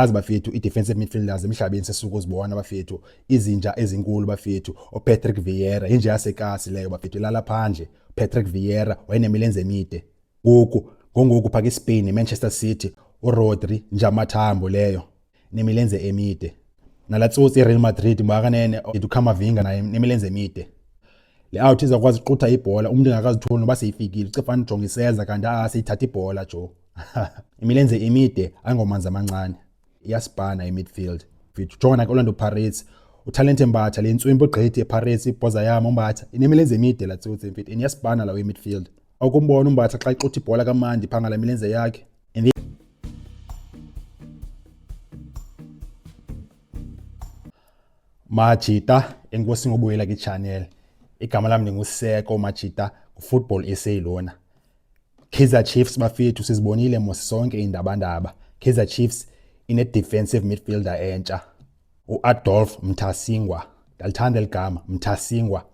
azi bafethu ii-defensive midfielders emhlabeni sesuku zibona bafethu izinja ezinkulu bafethu opatrick vieira yinja yasekasi leyo bafethu ilala phandle patrick vieira wayenemilenze emide ngoku ngongoku phaka ispain nemanchester city urodri njamathambo leyo nemilenze emide nala tsotsi ireal madrid mwakanene idukhamavinga naye nemilenze emide le out izakwazi uqutha ibhola umntu engakazitholi noba seyifikile cefana ujonga iseza kanti aseyithatha ibhola jo imilenze imide angomanzi amancane iyasibhana imidfield mfethu jonga nake orlando pirates utalente mbatha le ntswimpo igqithi epirates ibhoza yam umbatha inemilenze emide la tsotsi mfethu and iyasibhana lawo imidfield okumbona umbatha xa ixuthi ibhola kamandi phaa ngala milenze yakhe majita enkosi ngobuyela kwi-channel igama lam ndinguseko majita ngufootball sa lona Kaizer Chiefs bafethu sizibonile mos sonke indabandaba. Kaizer Chiefs ine defensive midfielder entsha uAdolf Mthasingwa. Ndalithanda eligama Mthasingwa.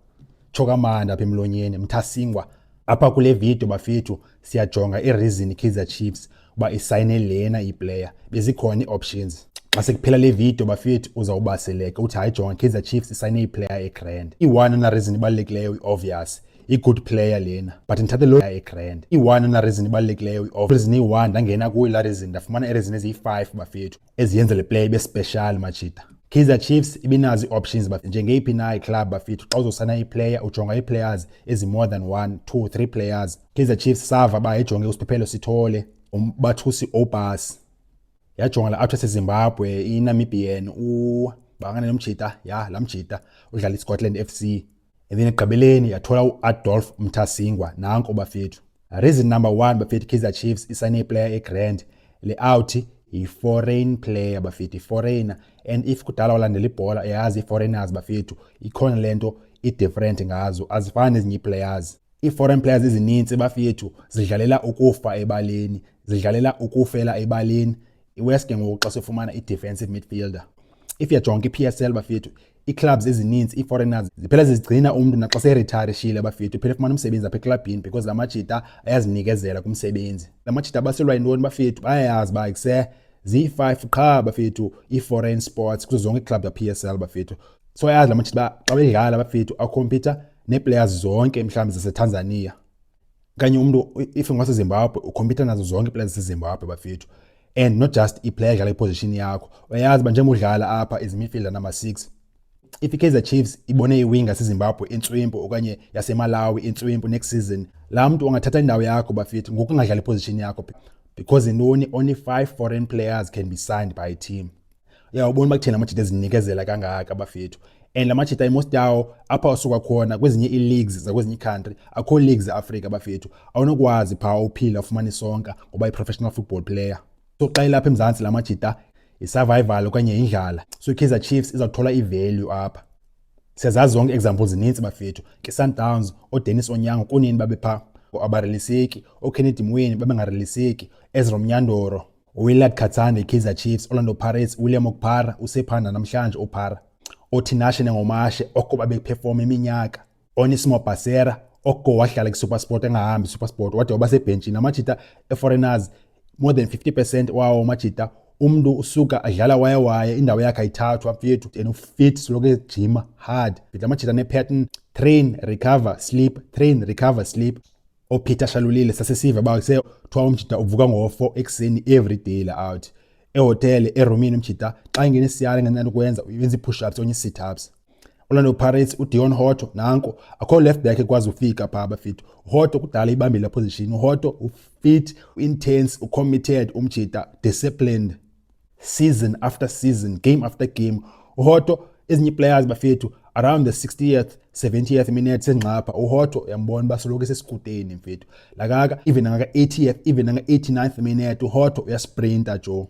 Choka manda apha emlonyeni Mthasingwa. Apha kule video bafethu siyajonga ireason Kaizer Chiefs uba isayine lena iplayer. Bezikhona ioptions. Xa sekuphela le video bafethu uzawubaseleka uthi hayi jonga Kaizer Chiefs isayine iplayer egrand. I-one na reason ibalulekileyo iobvious. i-good player lena but ndithathe lo egrand i-one unareason ibalulekileyo i-off reason iyi-one ndangena kuyo la reason ndafumana ireason eziyi-five bafethu eziyenza le player ibe special machita Kaizer Chiefs ibinazo ii-options njengeyiphi na iclub bafethu xa uzosana iplayer ujonga ii-players ezi-more than one two three players Kaizer Chiefs sava ba yayijonge usiphephelo sithole umbathusi obas yajonga la actress ezimbabwe inamibian u bangane nomjita ya la mjita udlala iscotland f c And then ekugqibeleni yathola uAdolf Mthasingwa nanko bafethu. Reason number 1 bafethu Kaizer Chiefs isane player eGrand le out yi-foreign player bafethu foreigner and if kudala walandela ibhola uyazi i-foreigners bafethu ikhona le nto i-different ngazo azifani nezinye ii-players ii-foreign players ezininzi bafethu zidlalela ukufa ebaleni zidlalela ukufela ebaleni iwest ke ngoku xa sifumana i-defensive midfielder if yajonga i-p s l bafethu ii-clubs ezininzi ii-foreigners ziphela zizigcina umntu naxa seretirishile abafethu uphela efumana umsebenzi apha eklabhini because la majita ayazinikezela kumsebenzi la majita abaselwa yintoni bafethu bayayazi uba kuse ziyi-five qha bafethu ii-foreign sports kuzo zonke iiklabhu za-p s l bafethu so ayazi la majita uba xa bedlala bafethu akhompyutha nee-players zonke mhlawumbi zasetanzania kanye umntu if ngwasezimbabwe ukhompyutha nazo zonke iiplaya zasezimbabwe bafethu and not just iplaya edlala iposition yakho uyayazi uba njengoba udlala apha izimidfielder number six if ikaizer chiefs ibone iwinga sezimbabwe intswimpu okanye yasemalawi intswimpu next season laa mntu ungathatha indawo yakho bafethu ngokungadlala iposition yakho because intoni only five foreign players can be signed by a team uyawubona uba kutheni amajita ezinikezela kangaka bafethu and la majita imost yawo apha asuka khona kwezinye ii-leagues zakwezinye iicountry akho leagues eafrika bafethu awunokwazi phaa uphila ufumane isonka ngoba i-professional football player so xa ilapha emzantsi la majita yi-survival okanye yindlala so i-kaizer chiefs izawuthola i-value apha siyazazi zonke example zininzi bafethu ke sundowns odenis onyango kunini babe phaa abareliseki okennedy mweni babengareliseki ezra mnyandoro uWillard Khatsane, Kaizer Chiefs, Orlando Pirates, William Okpara, usephanda namhlanje uPara, oThinashe Nengomashe, oko babephefoma iminyaka, Onismo Basera, oko wahlala kwiSuperSport engahambi iSuperSport wade waba sebhentshini, amajita eForeigners, more than 50 percent wawo amajita umntu usuka adlala waye waye indawo yakhe ayithathwa mfethu and ufit soloko ejima hard fitla amajita nepattern train recover sleep train recover sleep ophitha shalulile sasesiva ba se thwa umjita uvuka ngo-4 ekuseni every day la out ehotele erumini umjita xa ingena isiyale ngenani ukwenza uyenza i-push ups onye i-sit ups Orlando Pirates uDion Hotto nanko akho left back ekwazi ufika pha abafit Hotto kudala ibambile position Hotto ufit intense ucommitted umjita disciplined season after season game after game uhoto ezinye players bafethu around the 60th 70th minute sengxapha uhoto uyambona uba soloko esesikuteni mfethu lakaka even nangaka-80th even nanga-89th minute uhoto uyasprinta jo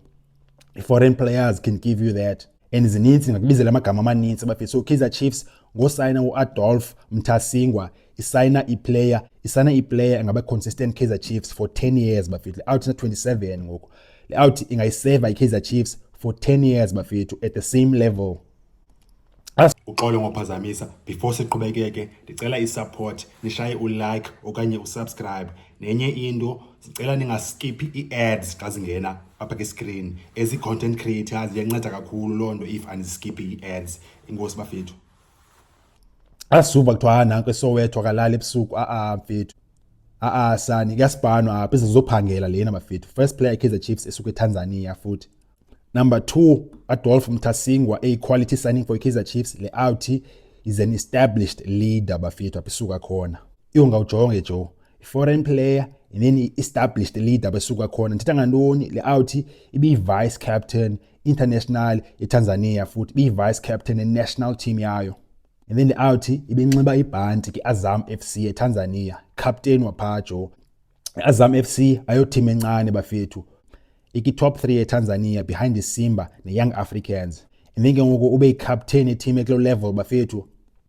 i-foreign players can give you that and zininzi ndingakubizela amagama amaninzi bafethu so kaizer chiefs ngosayina uAdolf Mthasingwa isayina iplayer isayina iplayer engaba consistent Kaizer Chiefs for 10 years bafethu out na 27 ngoku le out ingayiseva iKaizer Chiefs for 10 years bafethu at the same level uxolo ngophazamisa before siqhubekeke ndicela isupport nishaye ulike okanye usubscribe nenye into sicela ningaskiphi ii-ads xa zingena apha kwiscreen ezi-content creators iyanceda kakhulu loo nto if andiskiphi ii-ads inkosi bafethu asuva kuthiwa ha nanko esowetho akalali ebusuku a-a mfethu a-a sani kuyasibhanwa apha izizophangela lena bafethu first player ikaizer chiefs esuka etanzania futhi number two adolf mthasingwa eyi-quality signing for ikaizer chiefs le out is an established leader bafethu apha isuka khona iyonga ujonge jo i-foreign player and then i-established leader besuka khona ndithetha ngantoni le out ibiyi-vice captain international eTanzania futhi biyi-vice captain ne-national team yayo and then le-outhi ibinxiba ibhanti kwi-azam f c etanzania captain waphaa jo i-azam f c ayothim encane bafethu iki-top three etanzania behind isimba ne-young africans and then ke ngoku ube yicaptain etim eklo level bafethu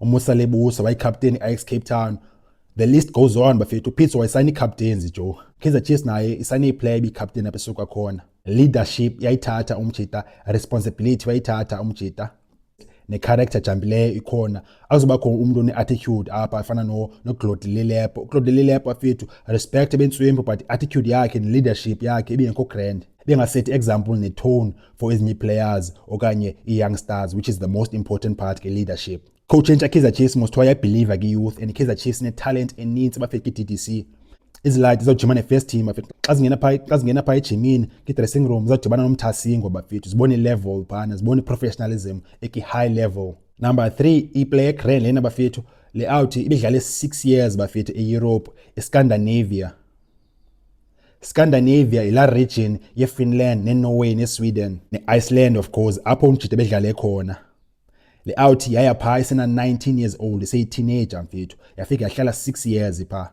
umusa lebusa wayikapteni i-ax cape town the list goes on bafethu upitso wayisayina iicaptains jo kaizer chiefs naye isayine iplayer ibiyicaptain apha esuka khona leadership yayithatha umjita responsibility wayithatha umjita ne-character jambileyo ikhona azobakho umntu one-attitude apha afana noclode no lelepo uclode lelepo afethu respect ebentsuembo but i-attitude yakhe ne-leadership yakhe ibingekho grand bengasethi example netone for ezinye players okanye i-young stars which is the most important part ke-leadership khotshintsha ikaizer chiefs mosthiwa yabhiliva kwi-youth and ikaizer chiefs inetalent enintsi bafika kwi-d c iziladi zizawujima ne-first team bafethu xa zingena phaa xa zingena phaa ejimini kwi-dressing room zizawudibana nomthasingo bafethu zibone i-level phana zibone i-professionalism ekwi-high level number three iplay egrand lena bafethu le out ibidlale six years bafethu eeurope escandinavia Scandinavia yila region yeFinland neNorway neSweden neIceland of course apho umjita bedlale khona. Le out yaya pha isena 19 years old iseyiteenager mfethu yafika yahlala 6 years pha.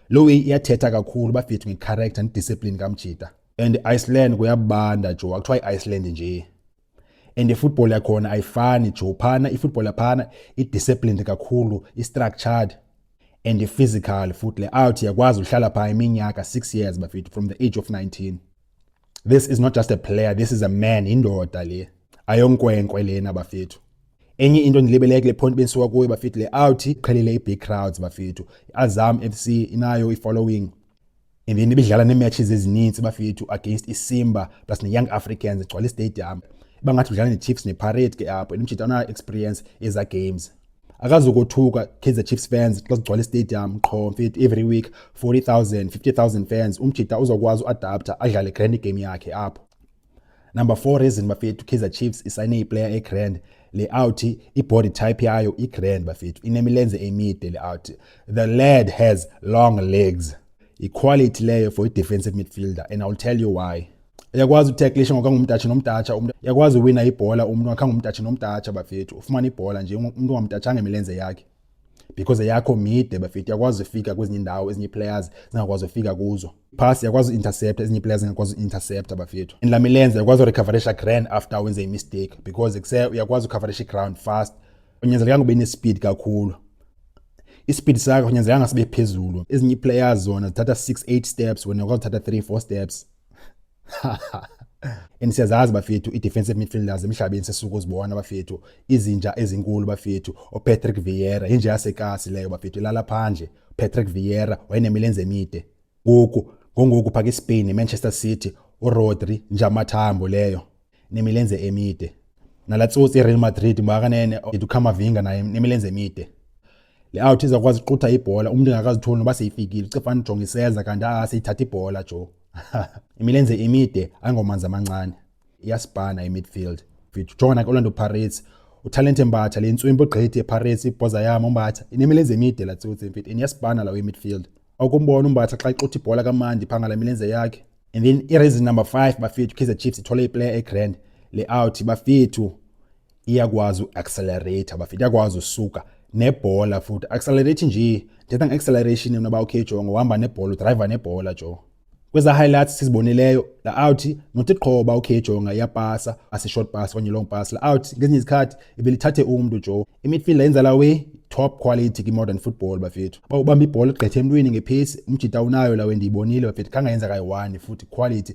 Lo iyathetha kakhulu bafethu ngecharacter nediscipline kamjita. And Iceland kuyabanda jo akuthiwa iIceland nje. and ifootball yakhona ayifani jo phana ifootball yaphana i-disciplined kakhulu i-structured and i-physical futhi le out yakwazi uhlala phaa iminyaka six years bafethu from the age of 19 this is not just a player this is a man indoda le ayonkwenkwe lena bafethu enye into ndilibeleke kule point bendisuka kuyo bafethu le out iqhelile i-big crowds bafethu i-azam f c inayo i-following Emveni bedlala neematches ezininzi bafethu against iSimba plus neYoung Africans egcwala istadium. Bangathi udlala neChiefs neParade ke apho and umjita ona experience eza games. Akazokothuka Kaizer Chiefs fans xa sigcwala istadium qho mfethu every week 40,000 50,000 fans umjita uzokwazi uadapter adlale grand game yakhe apho. Number 4 reason bafethu Kaizer Chiefs isayine iplayer egrand le out ibody type yayo igrand bafethu inemilenze emide le out the lad has long legs iquality leyo for i-defensive midfielder and i'll tell you why uyakwazi utacklisha ngoba ngumtatsha nomtatsha umuntu uyakwazi uwina ibhola umuntu wakha ngumtatsha nomtatsha bafethu ufumana ibhola nje umuntu ongamtatshanga imilenze yakhe because yakho mide bafethu yakwazi ufika kwezinye indawo ezinye players zingakwazi ufika kuzo pass yakwazi intercept ezinye players zingakwazi intercept bafethu and lamilenze yakwazi urecoverisha grand after wenze imistake because kuse uyakwazi ucoverisha ground fast unyanzelekanga ube nespeed kakhulu ispeed sakho unyanzelekanga sibe phezulu ezinye players zona zithatha 6 8 steps wena yakwazi uthatha 3 4 steps and siyazazi bafethu i-defensive midfielders emhlabeni sesuke uzibona bafethu izinja ezinkulu bafethu opatrick vieira inja yasekasi leyo bafethu ilala phandle patrick vieira wayenemilenze emide ngoku ngongoku phaka ispain nemanchester city urodri nje amathambo leyo nemilenze emide nala tsotsi ireal madrid makakanene edukhamavinga naye nemilenze emide le out izakwazi uqutha ibhola umntu engakazitholi noba seyifikile ucefana ujonga iseza kanti a seyithatha ibhola jo imilenze emide angomanzi amancane iyasibhana imidfield fithi ujonga naku-orlando pirates utalente mbatha le ntswimpo gqithi epirates ibhoza yam umbatha inemilenze emide la tsotsi mfit iniyasibhana lawo imidfield akumbona umbatha xa ixutha ibhola kamandi phangala imilenze yakhe and then ireason number five bafethu kaizer chiefs ithole iplayer egrand le out bafethu iyakwazi uaccelerate bafethu iyakwazi usuka nebhola futhi accelerate nje ndithetha nge-acceleration yona uba okay jongo uhamba nebhola udriver nebhola jo kweza highlights sizibonileyo la out nothi qhoba okay jonga iyapasa asi short pass okanye long pass la out ngezinye izikhathi ibelithathe umntu jo imidfield yenza la we top quality kwi-modern football bafethu uba ubamba ibhola igqethe emntwini ngephesi umjita unayo lawe ndiyibonile bafethu khangayenza kayi-one futhi quality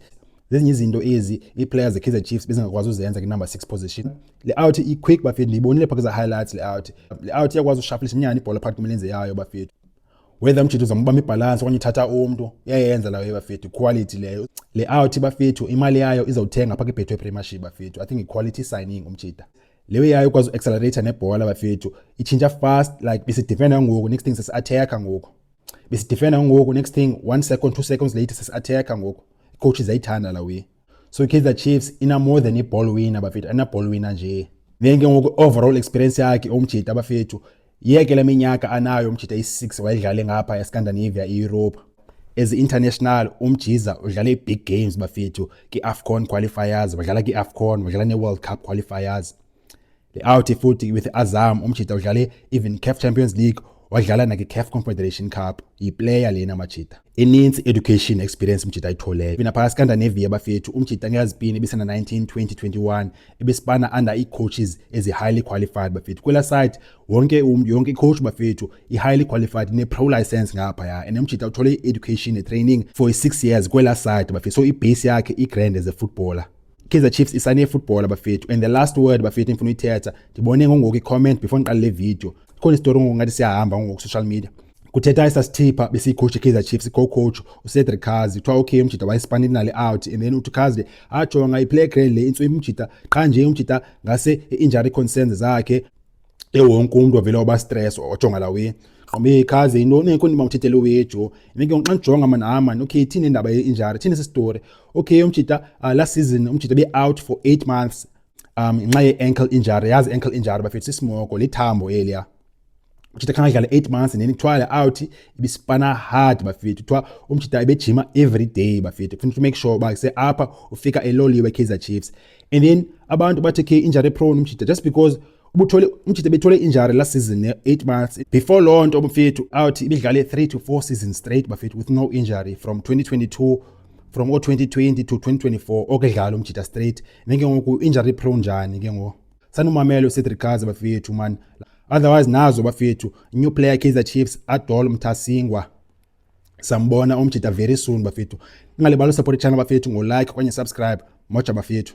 zezinye izinto ezi ii-players ze-kaizer chiefs bezingakwazi uzenza kwi-number six position le out i-quick bafethu ndiyibonile phaa kwiza-highlights le out le out iyakwazi ushafilisa inyani ibhola phakathi kwemilenze yayo bafethu whether umjita uzambamba ibhalansi okanye uthatha umntu iyayenza layo bafethu iquality leyo le out bafethu imali yayo izawuthenga phaa kwibhetho epremieship bafethu i think iquality signing umjita leyo yayo ukwazi uaccelerator nebhola bafethu itshintsha fast like besidefenda ngoku next thing sesiattacker ngoku besidefenda ngoku next thing one second two seconds later sesiattacker ngoku icoach zayithanda la way so ikaizer chiefs ina more than iball winner bafethu anaball winner nje then ke ngoku overall experience yakhe omjita bafethu Yeke le minyaka anayo umjita i-6 wayedlale ngapha eScandinavia iEurope. As international umjiza udlale i-big games bafethu ki-AFCON qualifiers, wadlala ki-AFCON, wadlala ne-World Cup qualifiers. Le out futhi with Azam umjita udlale even CAF Champions League, wadlala naki-CAF Confederation Cup. Yiplayer lena majita. inintsi education experience umjita ayitholeyo mina phakathi kandaneviya bafethu umjita ngeyazipini ebisana 19 2021 ebesibana under ii-coaches ezi-highly qualified bafethu kwela side wonke umntu yonke icoach bafethu i-highly qualified ne-pro license ngaphaya and umjita uthole i-education ne-training for i-six years kwela side bafethu so ibheyisi yakhe i-grand as a footballer Kaizer Chiefs isane football abafethu and the last word bafethu ngifuna uyithetha ndibone ngongoku i-comment before ngiqale le video khona isitori ngongathi siyahamba ngongoku social media kuthetha isasithipha besiyicoach ikaizer chiefs co-coach ucedric kazi kuthiwa okay umjita wayesipana inali out and then uthi kazi le ajonga iplayer grade le intso imjita qha nje umjita ngase i-injury concerns zakhe ewonke umntu avele waba stress ojonga la wini gqobe kaze yintoni enko ndima uthethele wejo nike xa ndijonga mani hayi mani okay ithini indaba ye-injury thini sisitori okay umjita uh, last season umjita be-out for eight months um ngenxa ye-ankle injury yazi ankle injury bafethu sisimoko lithambo eliya umjita khange adlale eight months nini kuthiwa le out ibisipana hard bafethu kuthiwa umjita ebejima every day bafethu kufuneka to make sure uba seapha ufika eloliwe ekaizer chiefs and then abantu bathe ke injury prone umjita just because ubuthole umjita ebethole injury last season ne-eight months before loo nto bafethu out ibidlale three to four seasons straight bafethu with no injury from 2022 from o-2020 to 2024 okudlala umjita straight then ke ngoku injury prone njani ke ngoku sanumamele ucedric gaza bafethu mani otherwise nazo bafethu new player kaizer chiefs adol mthasingwa sambona umjita very soon bafethu ningalibali usupport ichannel bafethu ngolike okanye subscribe moja bafethu